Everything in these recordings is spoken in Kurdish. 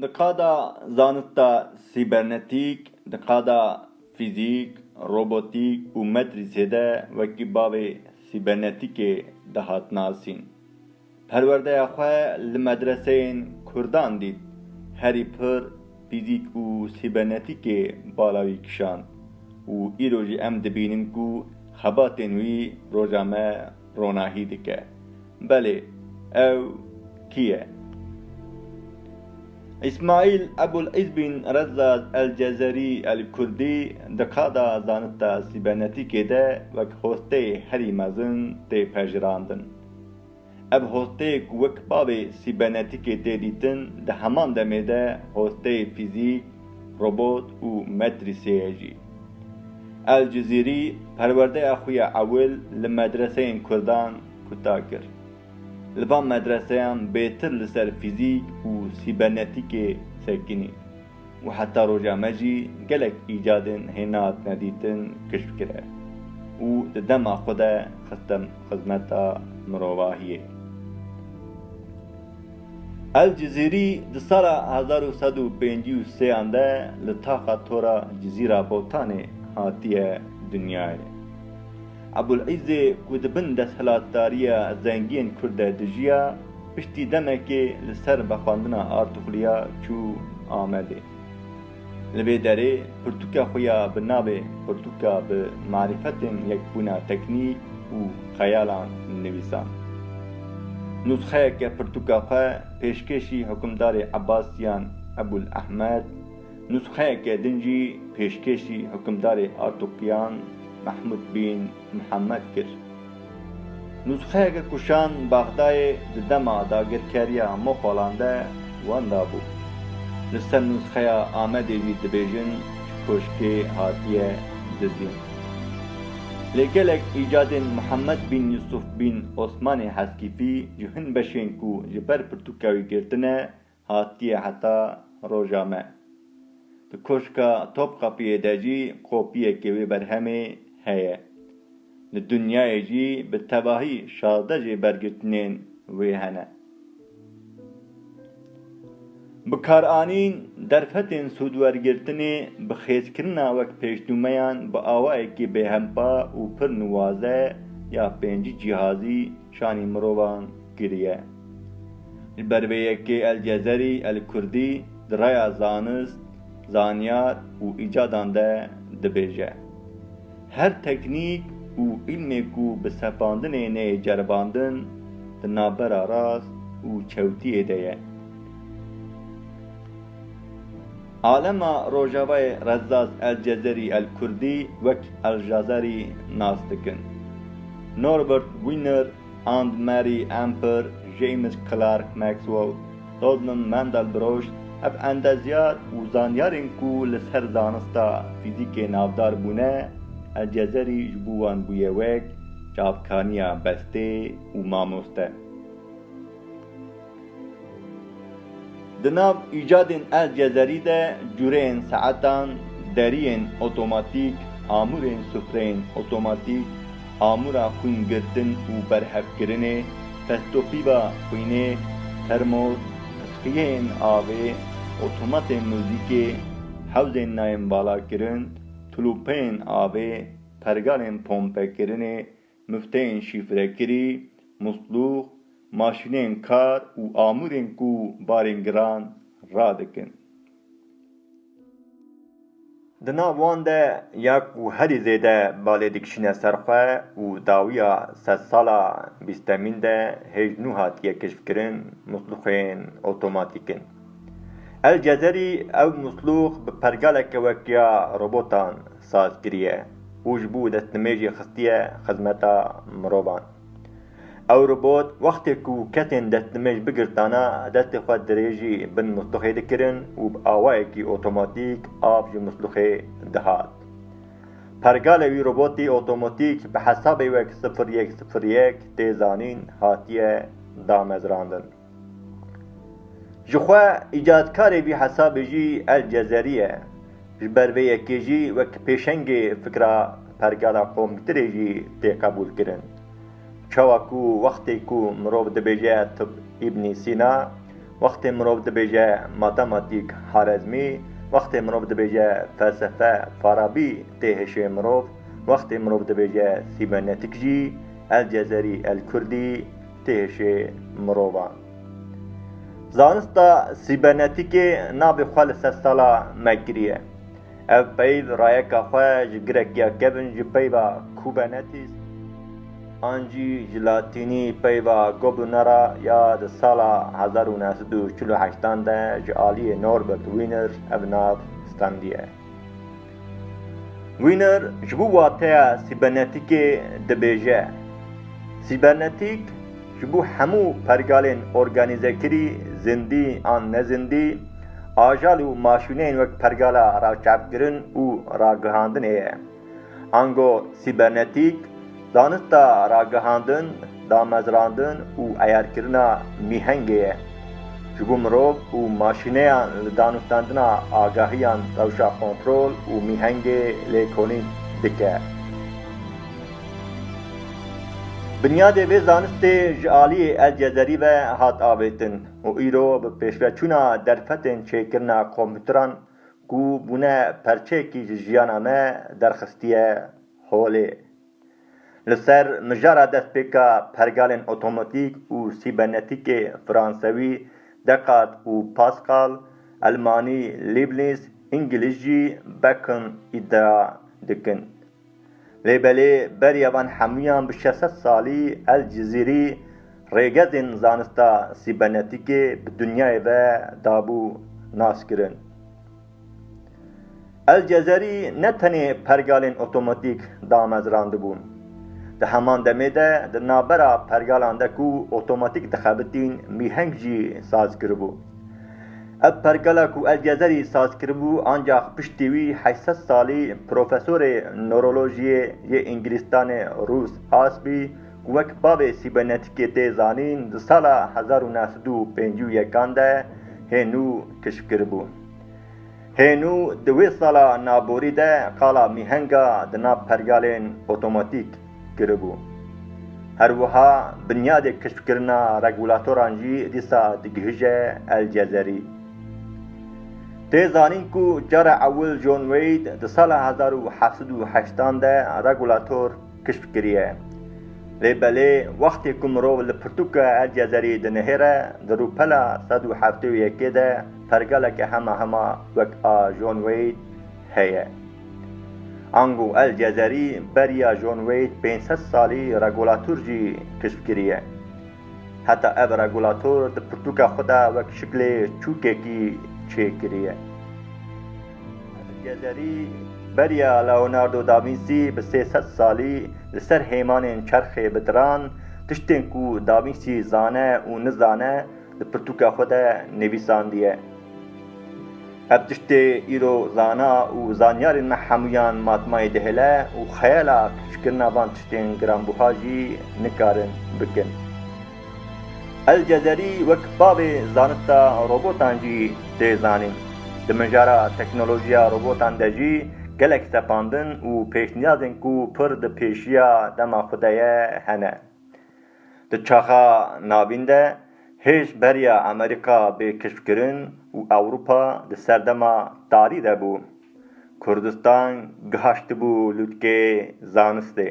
Di qada zanista sîbernetîk, di qada fîzîk, robotîk û metrîsê de wekî bavê sîbernetîkê dihat nasîn. Perwerdeya xwe li medreseyên kurdan dît, herî pir fîzîk û sîbernetîkê bala wî kişand û îro jî em dibînin ku xebatên wî roja me ronahî dike. Belê, ew kî ye? Îsmaîl Ebul Îzbîn Rezzaz El-Cezerî El-Kurdî di qada zanista sîbernetîkê de wek hosteyê herî mezin tê pejirandin. Ev hosteyê ku wek bavê sîbernetîkê tê dîtin di heman demê de hosteyê fîzîk, robot û metrîseyê jî. El Cizîrî perwerdeya xwe ya ewil li medreseyên kurdan kuta kir. Li van medreseyan bêtir li ser fîzîk û sîbernetîkê sekinî û heta roja me jî gelek îcadên hêna hatine dîtin kişf kire û di dema xwe de xistin xizmeta mirovahiyê. El Cizîrî di sala hezar û sed û pêncî û sê an de li taxa tora Cizîra Botanê hatiye dinyayê. Ebûl Îzê ku di bin desthilatdariya zengiyên Kurd de dijiya, piştî demekê li ser vexwendina Artuxluya çû Amedê. Li vê derê pirtûka xwe ya bi navê Pirtûka bi marîfetên yekbûna teknî û xeyalan nivîsand. Nûsxeyeke pirtûka xwe pêşkêşî hukimdarê Ebasiyan Ebûl Ehmed, nûsxeyeke din jî pêşkêşî hukimdarê Artuqiyan Mehmûd Bîn Mihemed kir. Nûsxeyeke ku şan Bexdayê di dema dagirkeriya Moxolan de wenda bû. Li ser nûsxeya Amedê jî dibêjin ji koşkê hatiye dizîn. Lê gelek îcadên Mihemed bin Yusuf bin Osmanê Heskîfî ji hin beşên ku ji ber pirtûka wî girtine Hatiye heta roja me. Di Koşka Topkapiyê de jî kopyeyekê wê berhemê heye. Li dinyayê jî bi tevahî şazdeh jê bergirtinên wê hene. Bikaranîn derfetên sûdwergirtinê bi xêzkirina wek pêşnûmeyan bi awayekî bêhempa û pir nuwaze ya pêncî cîhazî Şanî mirovan kiriye. Ji ber vê yekê El Cezerî, El Kurdî di raya zanist, zanyar û îcadan de dibêje, Her teknîk û îlmê ku bi sepandinê neyê ceribandin, di navbera rast û çewtiyê de ye. Alema Rojavayê Rezzaz El-Cezeri El-Kurdî wek Al-Jazari nas dikin. Norbert Wiener, Anne Marie Amper, James Clerk Maxwell, Rodman Mandelbrot ev endezyar û zanyarên ku li ser zanista fîzîkê navdar bûne, El-Cezeri ji bo wan bûye wek çavkaniya bestê û mamoste. Di nav îcadên El Cezerî de cureyên saetan, deriyên otomatîk, amûrên sufreyên otomatîk, amûra xwîn girtin û berhevkirinê, festopîba xwînê, termos, pisxiyeyên avê, otomatên muzîkê, hewzên nayînbalakirin, tulûpeyên avê, pergalên pompekirinê, Mifteyên şîfrekirî, muslûx, maşîneyên kar û amûrên ku barên giran radikin. Di nav wan de ya ku herî zêde balê dikişîne ser xwe û dawiya sedsala bîstemîn de hêj nû hatiye keşfkirin, muslûxên otomatîk in. El Cezerî ew mislûx bi pergaleke wek ya robotan saz kiriye û ji bo destnimêjê xistiye xizmeta mirovan. Ew robot wextê ku kesên destnimêj bigirtana destê xwe dirêjî bin mislûxê dikirin û bi awayekî otomatîk av ji mislûxê dihat. Pergale wî robotî otomatîk bi hesabê wek sifir yek sifir yek tê zanîn hatiye damezrandin. Ji xwe îcadkarê vî hesabê jî El Cezerî ye. Ji ber vê yekê jî wek pêşengê fikra pergala komktirê jî tê qebûlkirin. Çawa ku wextê ku mirov dibêje tib Îbnî Sîna, wextê mirov dibêje matematîk Harezmî, wextê mirov dibêje felsefe Farabî tê hişê mirov, wextê mirov dibêje sîbernetîk jî El Cezerî El Kurdî, têşê mirovan. Zanista sîbernetîkê navê xwe li ser sala me kiriye. Ev peyv rayeka xwe ji girekiya kevn ji peyva Kubernetes an jî ji latînî peyva Gobunara ya di sala hezar û neh sed û çil û heştan de ji aliyê Norbert Wiener ev nav standiye. Wiener ji bo wateya sîbernetîkê dibêje, Sîbernetîk ji bo hemû pergalên organîzekirî, zindî an nezindî, ajal û maşîneyên wek pergala raçavkirin û ragihandinê ye. Ango sîbernetîk, zanista ragihandin, damezrandin û eyarkirina mîhengê ye. Ji bo mirov û maşîneyan li danûstandina agahiyan rewşa kontrol û mîhengê lêkolîn dike. Binyadê vê zanistê ji aliyê El Cezerî ve hat avêtin û îro bi pêşveçûna derfetên çêkirina kompûteran ku bûne perçeyekî ji jiyana me derxistiye holê. Li ser mijara destpêka pergalên otomatîk û sîbernetîkê fransewî, Dekat û Paskal, elmanî, Lîbnîz, îngilîzcî, Bacon îdia dikin. Lê belê beriya van hemûyan bi şeş sed salî El Cizîrî rêgezên zanista sîbernetîkê bi dinyayê ve dabû naskirin. El Cezerî ne tenê pergalên otomatîk damezrandibûn. Di heman demê de di navbera pergalan de ku otomatîk dixebitîn mîheng jî saz kiribû. Ev pergala ku Elgezerî saz kiribû ancax piştî wî heşt sed salî profesorê nurolojiyê yê Îngilîstanê Rûs Asbî ku wek bavê sîbernetikê tê zanîn di sala hezar û neh sed û pêncî û yekan de hê nû kişf kiribû. Hênû di wê sala naborî de qala mîhenga di nav pergalên otomatîk kiribû. Her wiha binyadê keşfkirina regulatoran jî dîsa digihije El Cezerî. Tê zanîn ku cara ewil John Wade di sala hezar û heft sed û heştan de regulator keşf kiriye. Lê belê wextê ku mirov li pirtûka El Cezerî dinihêre di rûpela sed û heftê û yekê de, pergeleke hema hema wek a John Wade heye. Ango El Cezerî beriya John Wade pênc sed salî regulator jî keşf kiriye. Heta ev regulator di pirtûka xwe de wek şiklê çûkekî çê kiriye. El Cezerî beriya Leonardo da Vinci bi sê sed salî li ser hêmanên çerxê bi diran, tiştên ku da Vinci zane û nizane, Di pirtûka xwe de nivîsandiye, Ev tiştê îro zana û zanyarên me hemûyan matmayê dihêle û xeyala keşkirina van tiştên giranbûha jî nikarin bikin. El Cezerî wek bavê zanista robotan jî tê zanîn. Di mijara teknolojiya robotan de jî gelek sepandin û pêşniyazên ku pir di pêşiya dema xwe de ye hene. Di çaxa navîn de hêj beriya Amerîka bê keşfkirin û Ewropa di serdema tarî de bû. Kurdistan gihaştibû lûtkê zanistê.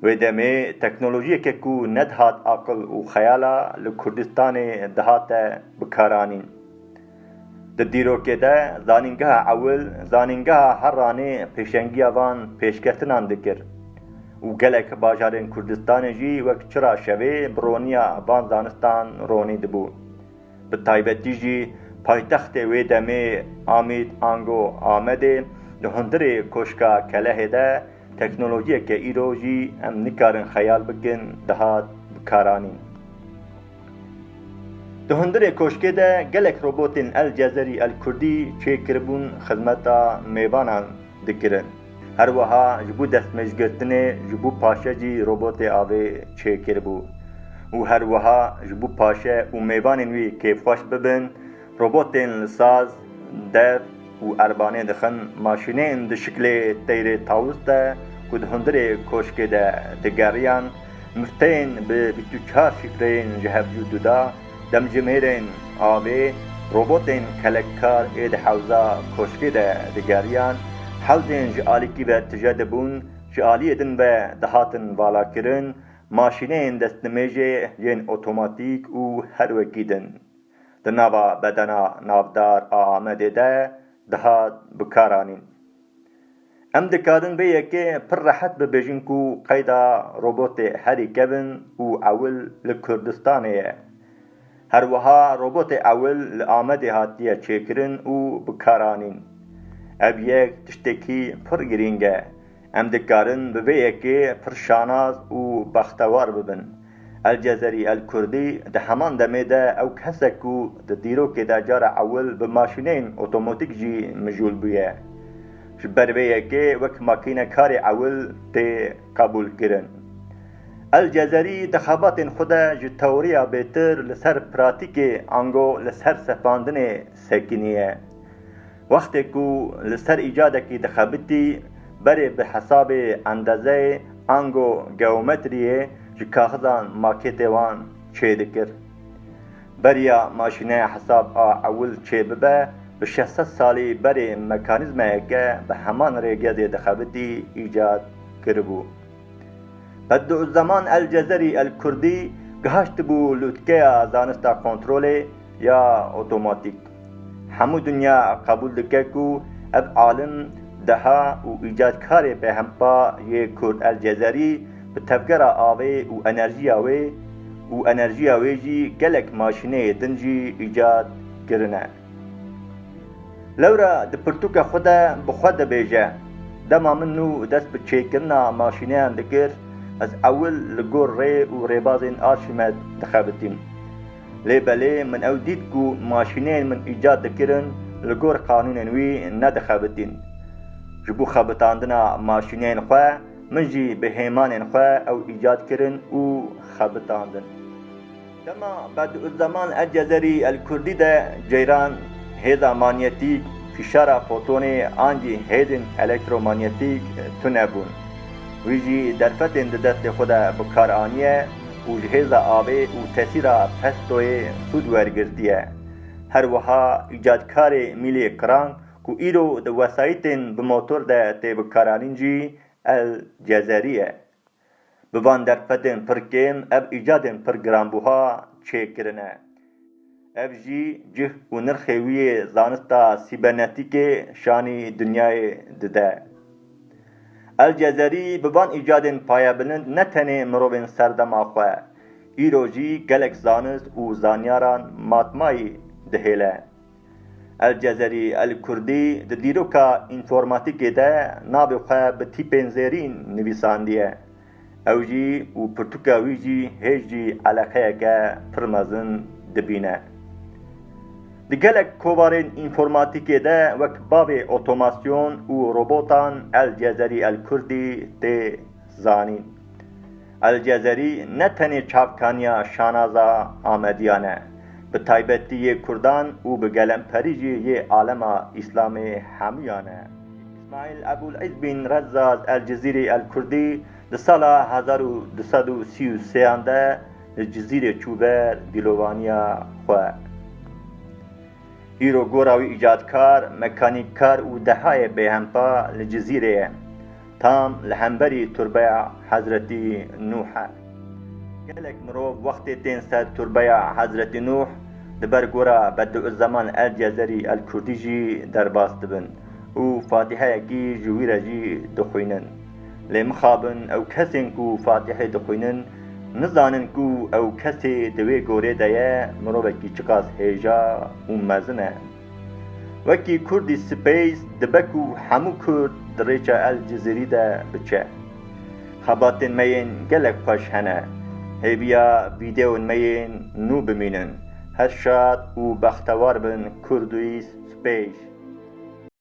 Wê demê teknolojiyeke ku nedihat aqil û xeyala li Kurdistanê dihate bikaranîn. Di dîrokê de Zanîngeha Ewil, Zanîngeha Heranê pêşengiya van pêşketinan dikir û gelek bajarên Kurdistanê jî wek çira şevê bi roniya van zanistan ronî dibû. Bi taybetî jî paytextê wê demê Amîd ango Amedê di hundirê Koşka Kelehê de teknolojiyeke îro jî em nikarin xeyal bikin dihat bikaranîn. Di hundirê koşkê de gelek robotên El Cezerî El Kurdî çêkiribûn xizmeta mêvanan dikirin. Her wiha ji bo destmêjgirtinê ji bo paşe jî robotê avê çêkiribû û her wiha ji bo paşe û mêvanên wî kêfxweş bibin, Robotên li saz, dev û erbanê dixin maşînên di şiklê teyrê tawus de ku di hundirê koşkê de digeriyan, mifteyên bi bîst û çar şîfreyên ji hev cû duda, demjimêrên avê, robotên kelekar ê di hewza koşkê de digeriyan, hewzên ji alîkî ve tije dibûn, ji aliyê din ve dihatin valakirin, maşîneyên destnimêjê yên otomatîk û her wekî din. di nava bedena navdar a Amedê de dihat bikaranîn. Em dikadin vê yekê pir rehet bibêjin ku qeyda robotê herî kevn û ewil li Kurdistanê ye. Her wiha robotê ewil li Amedê hatiye çêkirin û bikaranîn. Ev yek tiştekî pir girîng e. Em dikarin bi vê yekê pir şanaz û bextewar bibin. El Cezerî El Kurdî di heman demê de ew kes e ku di dîrokê de cara ewil bi maşîneyên otomotîk jî mijûl bûye. Ji ber vê yekê wek makînekarê ewil tê qebûlkirin. El Cezerî di xebatên xwe de ji teoriya bêtir li ser pratîkê ango li ser sepandinê sekinîye. Wextê ku li ser îcadekî dixebitî, berê bi hesabê endezeyê ango geometriyê ji kaxizan makêtê wan çêdikir. Beriya maşîneya hesab a ewil çêbibe, bi şeş sed salî berê mekanîzmayeke bi heman rêgezê dixebitî îcad kiribû. Bedûzzeman El-Cezerî El-Kurdî gihaştibû lûtkeya zanista kontrolê ya otomatîk. Hemû dinya qebûl dike ku ev alim, deha û îcadkarê bêhempa yê Kurd El-Cezerî bi tevgera avê û enerjiya wê û enerjiya wê jî gelek maşîneyê din jî îcad kirine. Lewra di pirtûka xwe de bi xwe dibêje, Dema min nû dest bi çêkirina maşîneyan dikir, ez ewil li gor rê û rêbazên Arşîmed dixebitîm. Lê belê min ew dît ku maşîneyên min îcat dikirin li gor qanûnên wî nedixebitîn. Ji bo xebitandina maşîneyên xwe min jî bi hêmanên xwe ew îcat kirin û xebitandin. Dema Bediuzzeman El-Cezerî El-Kurdî de ceyran hêza manyetîk, fîşara fotonê an jî hêzên elektromanyetîk tune bûn. Wî jî derfetên di destê xwe de bi kar aniye û ji hêza avê û tesîra pestoyê sûd wergirtiye. Her wiha îcadkarê mîlê qirang ku îro di wesayîtên bi motor de tê bikaranîn jî El-Cezerî ye. Bi van derfetên pir kêm ev îcadên pir giranbûha çêkirine. Ev jî cih û nirxê wî yê zanista sîbernetîkê şanî dinyayê dide. El Cezerî bi van îcadên payebilind ne tenê mirovên serdema xwe, îro jî gelek zanist û zanyaran matmayî dihêle. El Cezerî El Kurdî di dîroka înformatîkê de navê xwe bi tîpên zêrîn nivîsandiye. Ew jî û pirtûka wî jî hêj jî eleqeyeke pir mezin dibîne. Di gelek kovarên înformatîkê de wek bavê otomasyon û robotan El Cezerî El Kurdî tê zanîn. El Cezerî ne tenê çavkaniya şanaza Amediyan e, bi taybetî yê Kurdan û bi gelemperî jî yê alema Îslamê hemûyan e. Îsmaîl Ebûl Îz Bîn Rezzaz El Cizîrî El Kurdî di sala hezar û du sed û sî û sêyan de li Cizîrê çû ber dîlovaniya xwe. Îro gora wî îcadkar, mekanîkkar û dehayê bêhempa li Cizîrê ye. Tam li hemberî Turbeya Hezretî Nuh e. Gelek mirov wextê tên ser Turbeya Hezretî Nuh di ber gora Bediuzzeman El-Cezerî El-Kurdî jî derbas dibin û fatîheyekî ji wî re jî dixwînin. Lê mixabin ew kesên ku Fatîhê dixwînin nizanin ku ew kesê di wê gorê de ye mirovekî çiqas hêja û mezin e. Wekî Kurdî Space dibe ku hemû Kurd di rêça El Cizîrî de biçe. Xebatên me yên gelek xweş hene. Hêviya vîdeon me yên nû bimînin. Her şad û bextewar bin Kurdî Space.